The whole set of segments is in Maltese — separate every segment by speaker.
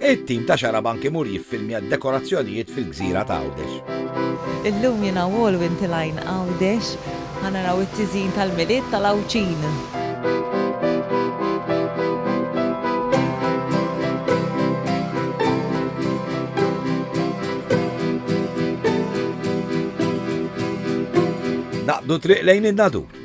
Speaker 1: It-tim ta' Xarabank imur jiffilmja d-dekorazzjonijiet fil-gżira ta' Għawdex. Illum jien Awol
Speaker 2: u inti l-għajn Għawdex, ħa naraw it-tiżjin tal-Milied tal-Għawdxin.
Speaker 1: Naqbdu t-triq lejn in-Nadur.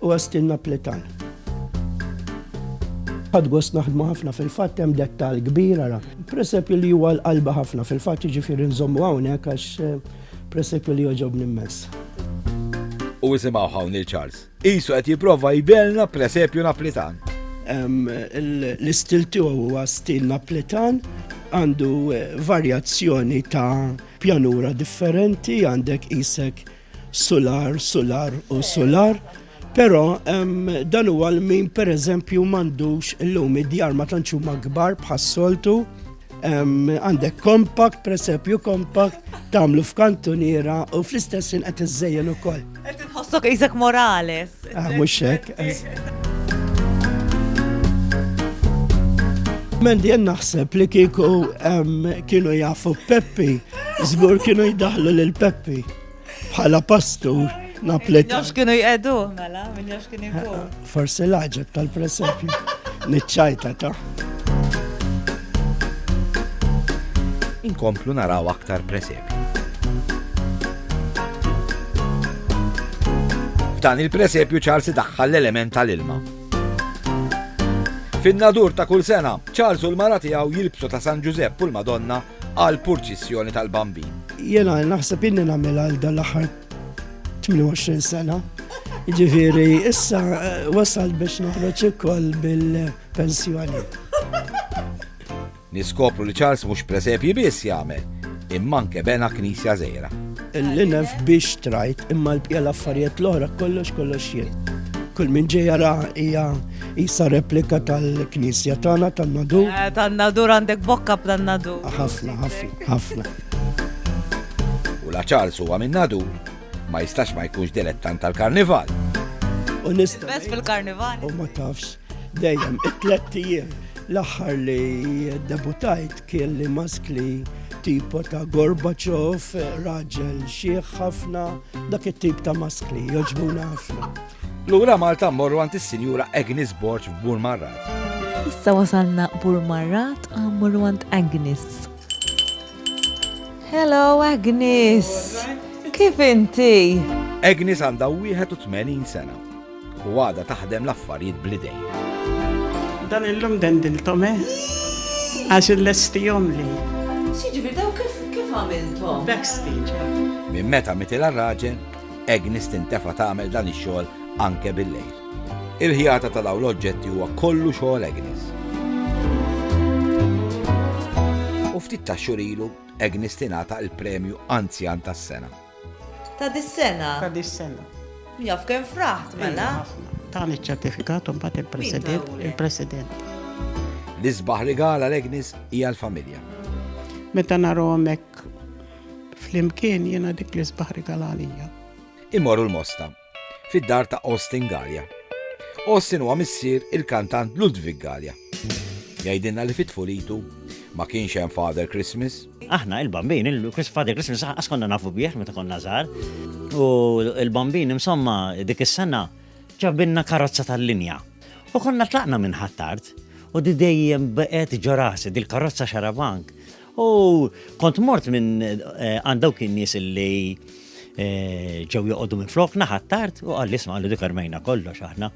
Speaker 3: u Austin Napletan. Ħadt gost naħdmu ħafna fil-fatt hemm dettall kbir ara. Presepju li huwa l-qalba ħafna fil-fatt jiġifieri nżommu hawnhekk għax eh, presepju li joġobni mmens.
Speaker 1: U isimgħu hawn il Charles. Isu qed jipprova jbelna presepju Napletan. L-istil
Speaker 3: tiegħu huwa stil Napletan għandu eh, varjazzjoni ta' pjanura differenti għandek isek Sular, sular u sular, però dan huwa l-min pereżempju m'għandux illum id-djar ma tantx huma kbar bħas-soltu għandek kompakt, presepju kompakt, tamlu f'kantuniera u fl-istess qed iżejjen ukoll. Qed inħossok isek
Speaker 2: morales. Ah, mhux hekk.
Speaker 3: Mendi jen naħseb li kieku kienu jafu Peppi, żgur kienu jdaħlu lil Peppi bħala pastur naplet. Nafx kienu jqedu,
Speaker 2: mela, minn nafx kienu jqedu. Forse laġet
Speaker 3: tal-presepju, nitċajta ta'
Speaker 1: inkomplu naraw aktar presepju. F'dan il-presepju Charles idaħħal l-element tal-ilma. Fin-nadur ta' kull sena, Charles u l-mara tiegħu jilbsu ta' San Ġużepp u l-Madonna għal purċissjoni tal-Bambin. Jena naħseb
Speaker 3: inni nagħmel għal dal-aħħar 28 sena. Ġifieri issa eh, wasal biex noħroġ ukoll bil-pensjoni.
Speaker 1: Niskopru li Charles mhux presepji biss jagħmel, imma anke bena knisja żgħira. Il-linef biex
Speaker 3: trajt, imma l-bqija l-affarijiet l-oħra kollox kollox jien. Kull min ġej jara hija isa replika tal-knisja tagħna tan-nadur. Eh, tan-nadur għandek
Speaker 2: bokka b'tan-nadur. Ah, ħafna, ħafna, ħafna.
Speaker 1: U la Charles huwa minn nadur ma jistax ma jkunx dilettant tal-karnival. U nista.
Speaker 2: Bes fil-karnival. U ma tafx.
Speaker 3: Dejjem it-tlet ijiem l-aħħar li debutajt kien li maskli tipo ta' Gorbachev, raġel xieħ ħafna, dak it-tip ta' maskli, joġbuna ħafna. Lura Malta
Speaker 1: morru għand is-Sinjura Agnes Borg f'Burmarrat. Issa
Speaker 2: wasalna Burmarrat morru għand Agnes. Hello Agnes! Kif inti? Agnes għandha
Speaker 1: 81 sena U għadha taħdem l-affarijiet bl-idejn. Dan
Speaker 4: illum dendilthom eh? Għax illestihomli. X'jiġifieri dawn
Speaker 2: kif kif għamilthom? Backstage.
Speaker 4: Minn meta
Speaker 1: mitilha r-raġel, Agnes tintefa' tagħmel dan ix-xogħol anke bil-lejl. Il-ħjata ta' dawn l-oġġetti huwa kollu xogħol Agnes. U ftit ta' xurilu, Agnes tingħata l-premju Anzjan tas-sena. Ta'
Speaker 2: dis-sena. Ta' dis-sena.
Speaker 4: Jaf kemm
Speaker 2: fraħt mela. Ħafna. Tani
Speaker 4: ċ-ċertifikat u mbagħad il-President, il-President.
Speaker 1: L-isbaħ rigal għal Agnes hija l-familja. Meta
Speaker 4: narahom hekk flimkien jiena dik l-isbaħ rigal għalija. Imorru l-mosta.
Speaker 1: fid-dar ta' Austin Galea. Austin huwa missier il-kantant Ludwig Galea. Jgħidilna li fi tfulitu ma kienx hemm Father Christmas. Aħna il-Bambin,
Speaker 5: il-Father Christmas laqqas konna nafu bih meta konna żgħar. U il-Bambin insomma dik is-sena ġabilna karozza tal-linja. U konna tlaqna minn Ħ'Attard u di dejjem baqgħet ġo rasi, dil-karozza xarabank. U kont mort minn għand dawk in-nies illi ġew joqogħdu minn flok naħat tard u qal isma' għandu dik armejna kollox aħna.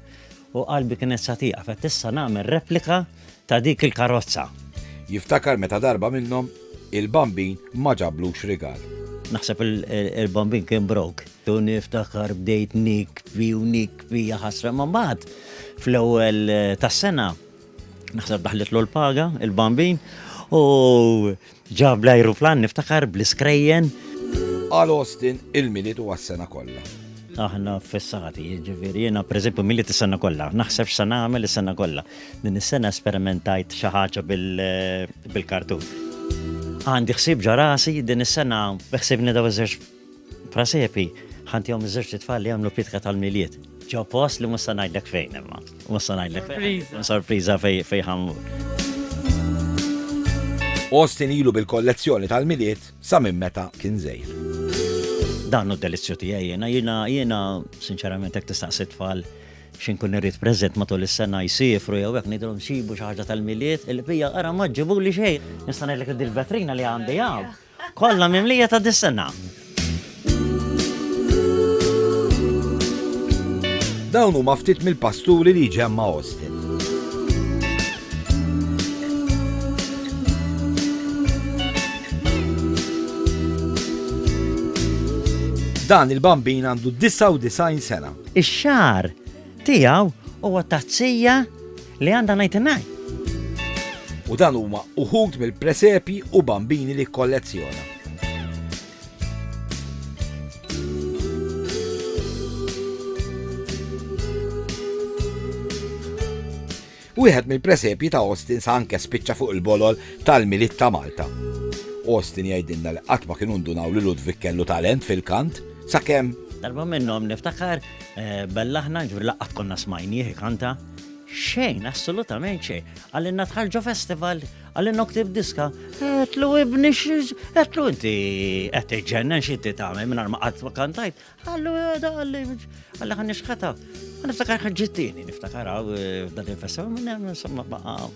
Speaker 5: U qalbi kienet sa tieqa fett issa nagħmel replika ta' dik il-karozza. Jiftakar
Speaker 1: meta darba minnhom il-bambin ma ġablux rigal. Naħseb
Speaker 5: il-bambin kien brok. Tu niftakar bdejt nikbi u nikbi ħasra ma' mbagħad fl-ewwel tas-sena Naħseb daħlitlu l-paga, il-bambin, u ġab l-ajruplan niftakar
Speaker 1: bl-iskrejjen. Għal
Speaker 5: Austin,
Speaker 1: il-milied huwa s-sena
Speaker 5: kollha. Aħna fissati, jiġifieri jiena pereżempju milied is-sena kollha, naħseb x'se nagħmel is-sena kollha. Din is-sena esperimentajt xi ħaġa bil-kartun. Għandi ħsieb ġo rasi, din is-sena beħsiebni dawn iż-żewġ Prasepi, ħa ntihom iż-żewġt itfal li jagħmlu pitka tal-Milied, ġo post li mhux se ngħidlek fejn imma. Mhux se ngħidlek fejn. Sorpriża. Sorpriża fejn ħa mmur.
Speaker 1: Austin ilu bil-kollezzjoni tal-Milied sa minn meta kien żgħir. Dan
Speaker 5: hu d-delizzju tiegħi jiena, jiena jiena sinċerament hekk tistaqsi tfal x'inkun irrid preżent matul is-sena jsifru jew hekk ngħidilhom xibu xi ħaġa tal-Milied, il-bija ara ma ġġibuli xejn. Nista' ngħidlek li dil-vetrina li għandi hawn. Kollha mimlija ta' dis-sena.
Speaker 1: Dawn huma ftit mill-pasturi li ġemma Austin. Dan il-bambin għandu 99 sena. Ix-xar
Speaker 5: Tiegħu huwa tazzija li għandha ngħid ngħid.
Speaker 1: U dan huma uħud mill-presepji u bambini li kollezzjona. Wieħed mill-presepji ta' Austin sa anke spiċċa fuq il-bolol tal-Milied ta' Malta. Austin jgħidilna li qatt ma kienu ndunaw li Ludwig kellu talent fil-kant, sakemm Darba minnhom
Speaker 5: niftakar eh, bellaħna ġbir laqqat konna smajnieh kanta. Xejn, assolutament xejn. Għallinna tħarġu festival, għallinna ktib diska, għetlu ibni xiex, għetlu inti għet iġġennen xie ti taħme minn arma għat kantajt, Għallu, da għalli, għalli għan nixħata. Għan niftakar ħagġittini, niftakar għaw eh, dan il-fessa, minn insomma baqa.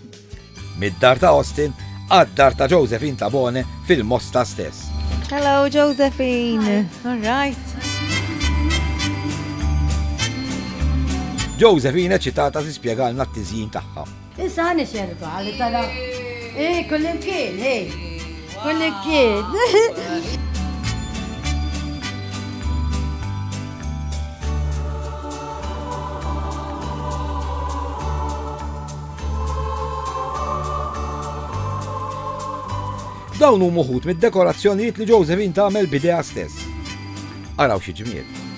Speaker 5: Mid-dar
Speaker 1: ta' Austin, għad-dar ta' Josephine Tabone fil-mosta stess. Hello,
Speaker 2: Josephine. All right.
Speaker 1: Josephine ċitata si spiegalna t-tizjin taħħa. Issa ħani xerba
Speaker 6: li tara. Eh, kullimkien, eh. Kullimkien.
Speaker 1: Dawn huma uħud mid-dekorazzjonijiet li Josephine tagħmel bidea stess. Araw xi ġmiel!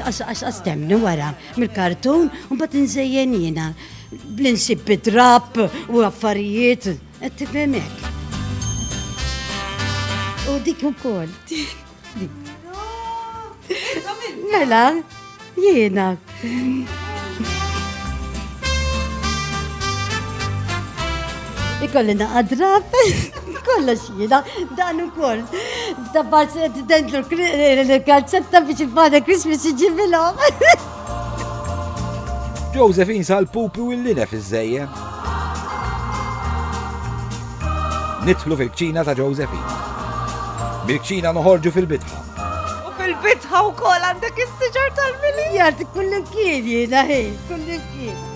Speaker 6: għax għax temni wara mill-kartun un bat nżejjen jina bl-insib bidrab u affarijiet għed tifemek. U dik u kol. Mela, jiena. Ikolli naqa drab, kollox jina, dan u kol. Dabbar s-dentlu l-kalzetta biex il-Father Christmas iġibilom.
Speaker 1: Josephine sal-pupi u l-linef iż-żejjen. Nidħlu fil-kċina ta' Josephine. Bil-kċina noħorġu fil-bitħa. U fil-bitħa
Speaker 2: u kol għandek il-siġar tal-mili. Jgħati kullin kien
Speaker 6: jina, kullin kien.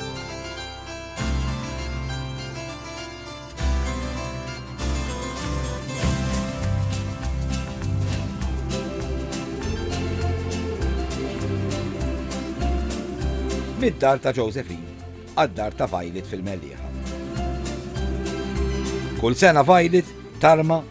Speaker 1: Mid-dar ta' Josephine għad-dar ta' Violet fil-Mellieħa. Kull sena Violet tarma